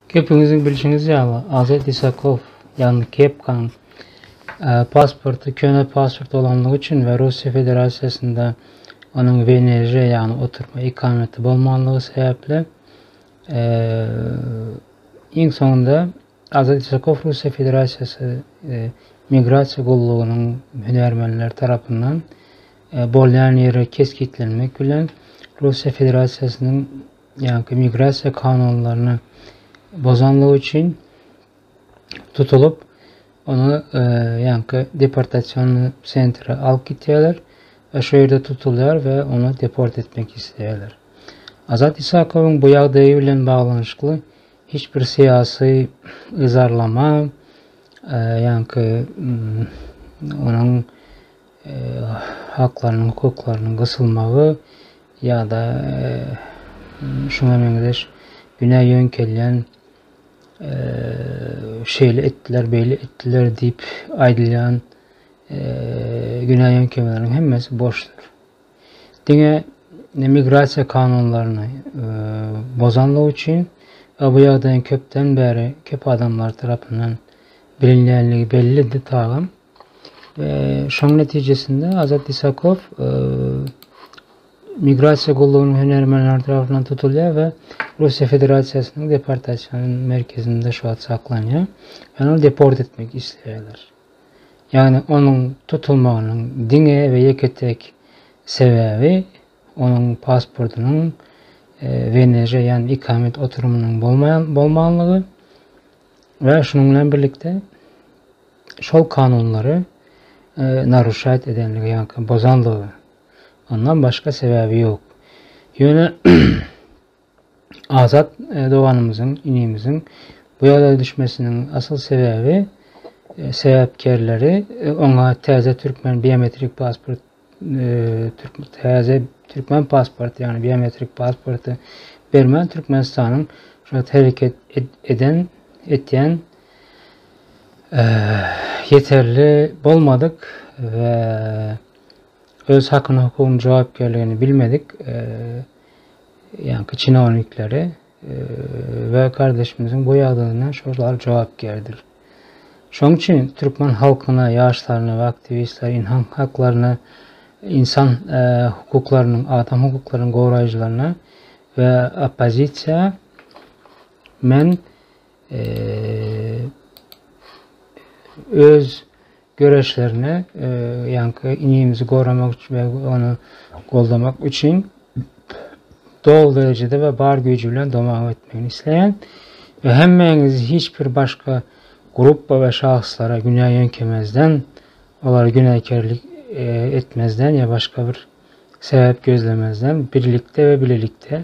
Gepiňizi bilşiňiz ýaly, Azat Isakow, ýagny Kepkaň pasporty köne pasport bolanlygy üçin we Russiýa Federasiýasynda onuň WNŻ, ýagny oturma ikameti bolmanlygy sebäpli, iň soňunda Azat Isakow Russiýa Federasiýasy Migrasiýa gullugynyň hünärmenleri tarapyndan bolýan ýeri kesgitlenmek bilen, Russiýa Federasiýasynyň ýa-da migrasiýa kanunlaryny bozanlygy üçin tutulyp, ony ýa-da deportasiýony sentre alyp gitýärler we şo ýerde tutulýar we ony deport etmek isleýärler. Azat Isakowyň bu ýagdaýy bilen baglanyşykly hiç bir syýasy yzarlama ýa-da onuň haklarynyň, hukuklarynyň gysylmagy ýa-da şuňa meňzeş günä ýöňkelýän şeýle etdiler, beýle etdiler diýip aýdylýan günä ýöňkemeleriň hemmesi boşdur. Diňe migrasiýa kanunlaryny bozanlygy üçin we bu ýagdaýyň köpden bäri köp adamlar tarapyndan bilinýänligi bellidi, tagam Şonuň netijesinde Azat Isakow migrasiýa gullugynyň hünärmenleri tarapyndan tutulýar we Russiýa Federasiýasynyň deportasiýa merkezinde şu wagt saklanýar. Ýöne ony deport etmek isleýärler. Ýagny onuň tutulmagynyň diňe we ýeke-tek sebäbi onuň pasportynyň e, WNŻ, ýagny ikamet oturumynyň bolmaýan bolmanlygy we şunuň bilen birlikde şol kanunlary naruşat edenligi ýa-da bozanlygy ondan başga sebäbi ýok. Ýöne Azat doganymyzyň, inimiziň bu ýagdaýa düşmesiniň asyl sebäbi sebäpkärleri oňa täze türkmen biometrik pasport täze türkmen pasporty, ýagny biometrik pasporty bermän Türkmenistanyň şu hereket eden, etýän ýeterli bolmadyk we öz hakyny-hukugyny, jogapkärligini bilmedik ýaňky çinownikleri we gardeşimiziň bu ýagdaýyna şo zal jogapkärdir. Şoň üçin türkmen halkyna, ýaşlaryna we aktiwistler inhan haklaryna, ynsan hukuklarynyň, adam hukuklarynyň goraýjylaryna we oppozisiýa men öz göreşlerine e, ýaňky inimizi goramak üçin we ony goldamak üçin dol derejede we bar güýji bilen domag etmegini isleýän we hemmäňiz hiç bir başga gruppa we şahslara günä ýöňkemezden olara günäkärlik e, etmezden ýa başga bir sebäp gözlemezden birlikde we bilelikde